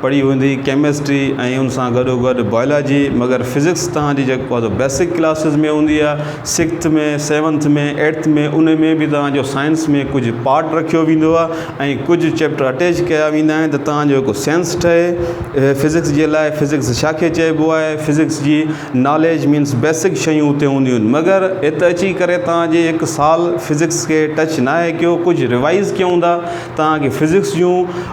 پڙهي هوندي ڪيمسٽري ۽ ان سان گڏو گڏ بايولاجي مگر فزڪس توهان جي جيڪو آهي بيسڪ ڪلاسز ۾ هوندي آهي سڪسٿ ۾ سيونٿ ۾ ايٽٿ ۾ ان ۾ به توهان جو سائنس ۾ ڪجهه پارٽ رکيو ويندو آهي ۽ ڪجهه چيپٽر اٽيچ ڪيا ويندا آهن ته توهان جو هڪ سينس ٺهي فزڪس جي لاء فزڪس ڇا کي چئبو آهي فزڪس جي ناليج مينس بيسڪ شيون اتي هونديون آهن مگر ات اچي ڪري توهان جي هڪ سال فزڪس کي ٽچ ناهي ڪيو ڪجهه ريوائز ڪيا هوندا توهان کي فزڪس جون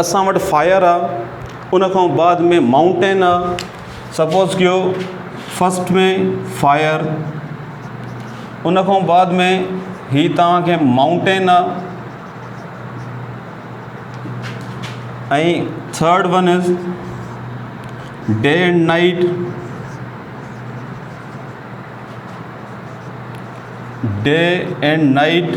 اسان وٽ فائر آ ان کان بعد ۾ مائونٽين آ سپوز ڪيو فسٽ ۾ فائر ان کان بعد ۾ هي توهانکي مائونٽين آ ۽ third one is day and night day and night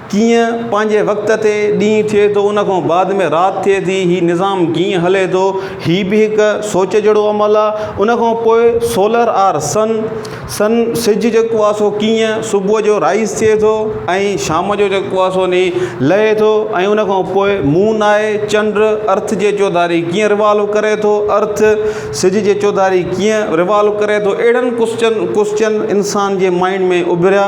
ڪيئن پنهنجي وقت تي ڏينهن ٿئي ٿو ان کان بعد ۾ رات ٿئي ٿي هي نظام ڪيئن هلي ٿو هي به هڪ سوچ جهڙو عمل آ ان کان پوء سولر آر سن سن سج جيڪو آ سو ڪيئن صبح جو رائيز ٿئي ٿو ۽ شام جو جيڪو آ سو ني لهي ٿو ۽ ان کان پوء مون آهي چنڊ ارٿ جي چوڌاري ڪيئن روالو ڪري ٿو ارٿ سج جي چوڌاري ڪيئن روالو ڪري ٿو اهڙن ڪوسچن ڪوسچن انسان جي مائنڊ ۾ اڀريا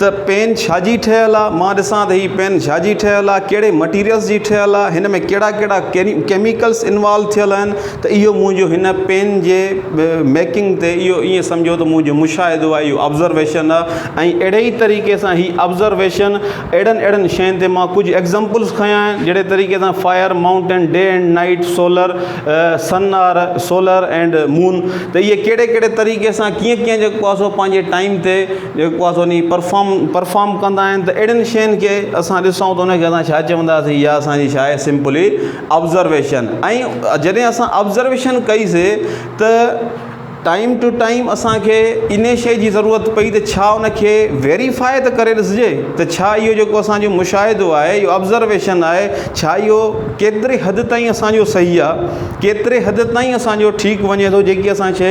ته پين ڇاجي ٺهيل آ مان ڏسان ته هي پين ڇاجي ٺهيل آ ڪهڙي مٽيريلس جي ٺهيل آ هن ۾ ڪهڙا ڪهڙا ڪيميڪلس انوالو ٿيل آهن ته اهو منهنجو هن پين جي ميڪنگ تي اهو ائين سمجهو ته منهنجو مشاهدو آ اهو آبزرويشن آ ۽ اهڙي ئي طريقي سان هي آبزرويشن اهڙن اهڙن شين تي مان ڪجهه ايگزامپلس کنيا آهن جهڙي طريقي سان fire mountain day and night solar sun or solar and moon ته اهي ڪهڙي ڪهڙي طريقي سان ڪيئن ڪيئن جيڪو آ سو پنهنجي ٽائيم تي جيڪو اسان انهي پرفام پرفام ڪندا آهن ته اهڙين شين کي اسان ڏسون ته انهي کي اسان ڇا چونداسين يا اسانجي ڇا آهي سمپلي آبزرويشن ۽ جڏهن اسان آبزرويشن ڪئي سي ته ٽائيم ٽو ٽائيم اسانکي انهي شي جي ضرورت پئي ته ڇا انکي ويريفائي ته ڪري ڏسجي ته ڇا اهو جيڪو اسانجو مشاهدو آهي اهو آبزرويشن آهي ڇا اهو ڪيتري حد تائين اسانجو صحيح آهي ڪيتري حد تائين اسانجو ٺيڪ وڃي ٿو جيڪي اسان شي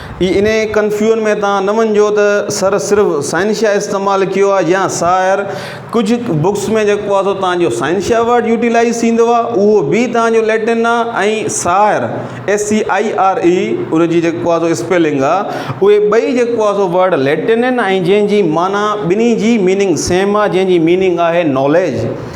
اي انهي ڪنفيون ۾ تان نه وڃجو ته سر صرف سائنشيا استعمال ڪيو آهي يا سائر ڪجهه بڪس ۾ جيڪو آهي سو تان جو سائنشيا ورڊ يوٽيلائيز ٿيندو آهي اهو به تان جو ليٽن آهي ۽ سائر SCIRE ان جي جيڪو آهي سو اسپيلنگ آهي اهي ٻئي جيڪو آهي سو ورڊ ليٽن آهن ۽ جنهن جي معنيٰ ٻنهي جي ميننگ سيم آهي جنهن جي ميننگ آهي ناليج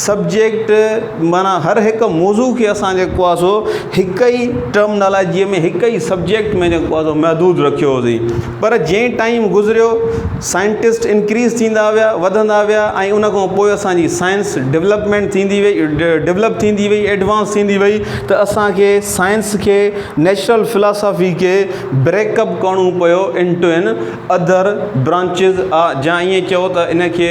سبجيڪٽ معنيٰ هر هڪ موضوع کي اسان جيڪو آهي سو هڪ ئي ٽرمنالاجيء ۾ هڪ ئي سبجيڪٽ ۾ جيڪو آهي سو محدود رکيو هوسين پر جئين ٽائيم گذريو سائنٽسٽ انڪريز ٿيندا ويا وڌندا ويا ۽ ان کان پوء اسان جي سائنس ڊولپمينٽ ٿيندي وئي ڊولپ ٿيندي وئي ايڊوانس ٿيندي وئي ته اسان کي سائنس کي نيچرل فلاسافي کي بريڪ اپ ڪرڻو پيو انٽو اين اڌر برانچز جا ائين چئو ته ان کي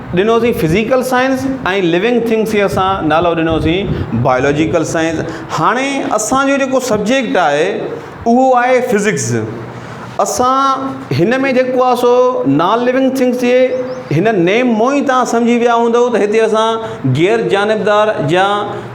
ڏنوسين فزيڪل سائنس ۽ لوينگ ٿنگس کي اسان نالو ڏنوسين بايولوجيڪل سائنس هاڻي اسانجو جيڪو سبجيڪٽ آهي اهو آهي فزڪس اسان هن ۾ جيڪو آهي سو نان لوينگ ٿنگس جي هن نيم مون ئي تان سمجهي ويا هوندو ته هتي اسان غير جانبدار جا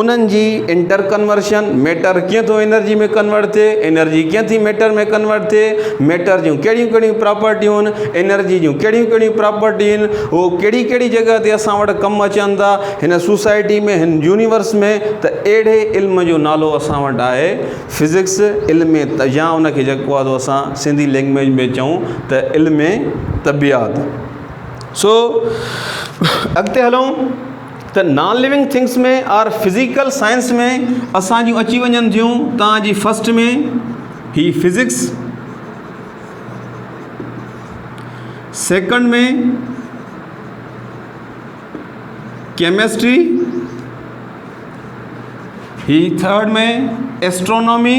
انهن جي انٽر ڪنورشن، ميٽر ڪيئن ٿو انرجي ۾ ڪنورٽ ٿئي، انرجي ڪيئن ٿي ميٽر ۾ ڪنورٽ ٿئي، ميٽر جون ڪهڙيون ڪهڙيون پراپرٽيون آهن، انرجي جون ڪهڙيون ڪهڙيون پراپرٽيون آهن، هو ڪهڙي ڪهڙي جڳهه تي اسان وٽ ڪم اچن ٿا، هن سوسائٽي ۾ هن يونيورس ۾ ته اهڙي علم جو نالو اسان وٽ آهي فزڪس علم يا ان کي جيڪو آهي اسان سنڌي لينگويج ۾ چئون ته علم طبعيات سو اڳتي هلون ته non living things ۾ or physical science ۾ اسان جون اچي وڃن ٿيون توهان جي فرسٽ ۾ هي فزڪس سيڪنڊ ۾ ڪيمسٽري هي ٿرڊ ۾ اسٽرونامي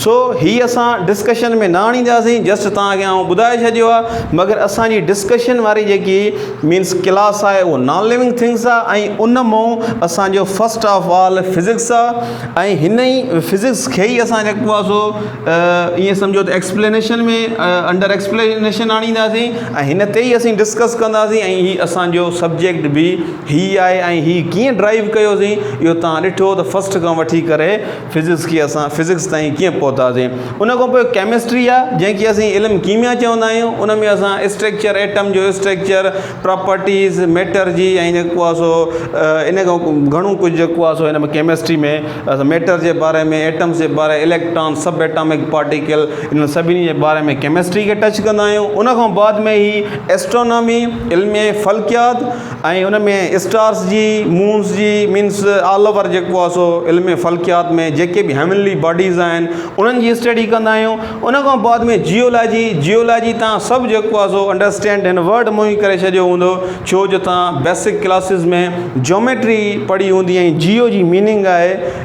سو هي اسان ڊسڪشن ۾ نه آڻينداسين جسٽ توهان کي آئون ٻڌائي ڇڏيو آهي مگر اسان جي ڊسڪشن واري جيڪي مينس ڪلاس آهي اهو نان ليونگ ٿنگس آهي ۽ ان مون اسان جو فسٽ آف آل فزڪس آهي ۽ هن ئي فزڪس کي ئي اسان جيڪو آهي سو ائين سمجهو ته ايڪسپلينيشن ۾ انڊر ايڪسپلينيشن آڻينداسين ۽ هن تي ئي اسين ڊسڪس ڪنداسين ۽ هي اسان جو سبجيڪٽ به هي آهي ۽ هي ڪيئن ڊرائيو ڪيوسين اهو تان ڏٺو ته فسٽ کان وٺي ڪري فزڪس کي اسان فزڪس تائين ڪيئن پهتاسين ان کان پوء ڪيمسٽري آ جنهن کي اسين علم ڪيميا چوندا آهيون ان ۾ اسان اسٽريڪچر ايٽم جو اسٽريڪچر پراپرٽيز ميٽر جي ۽ جيڪو آ سو ان کان پوء گهڻو ڪجهه جيڪو آ سو هن ۾ ڪيمسٽري ۾ اسان ميٽر جي باري ۾ ايٽمس جي باري اليڪٽران سب ايٽامڪ پارٽيڪل انهن سڀني جي باري ۾ ڪيمسٽري کي ٽچ ڪندا آهيون ان کان بعد ۾ هي اسٽرانامي علم فلڪيات ۽ ان ۾ اسٽارس جي، مونز جي، مينس آل اوور جيڪو آهي سو علم فلڪيات ۾ جيڪي به هيونلي باڊيز آهن انهن جي اسٽڊي ڪندا آهيون ان کان بعد ۾ جيولاجي جيولاجي تان سڀ جيڪو آهي سو انڊرسٽينڊ هن ورڊ مون ئي ڪري ڇڏيو هوندو ڇو جو تان بيسڪ ڪلاسز ۾ جيوميٽري پڙهي هوندي ۽ جيو جي ميننگ آهي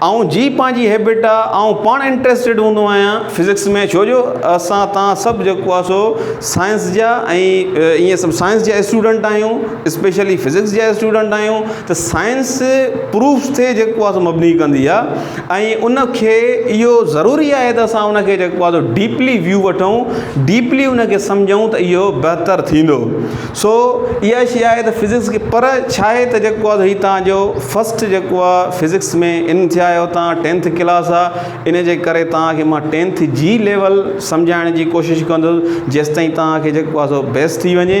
آئون جي پنهنجي هيبٽ آ آئون پاڻ انٽريسٽيڊ هوندو آهيان فزڪس ۾ ڇو جو اسان تان سڀ جيڪو آ سو سائنس جا ۽ ايئن سڀ سائنس جا اسٽوڊنٽ آهيون اسپيشلي فزڪس جا اسٽوڊنٽ آهيون ته سائنس پروف تي جيڪو آ سو مبني ڪندي آ ۽ ان کي اهو ضروري آهي ته اسان ان کي جيڪو آ سو ڊيپلي ويو وٺون ڊيپلي ان کي سمجهون ته اهو بهتر ٿيندو سو اها شيء آهي ته فزڪس کي پر ڇا آهي ته جيڪو آهي هي تان جو فسٽ جيڪو آهي فزڪس ۾ ان ٿيا آهيو تان ٽينٿ ڪلاس آهي ان جي ڪري تانکي مان ٽينٿ جي ليول سمجهائڻ جي ڪوشش ڪندو جيستائين تانکي جيڪو آهي سو بيس ٿي وڃي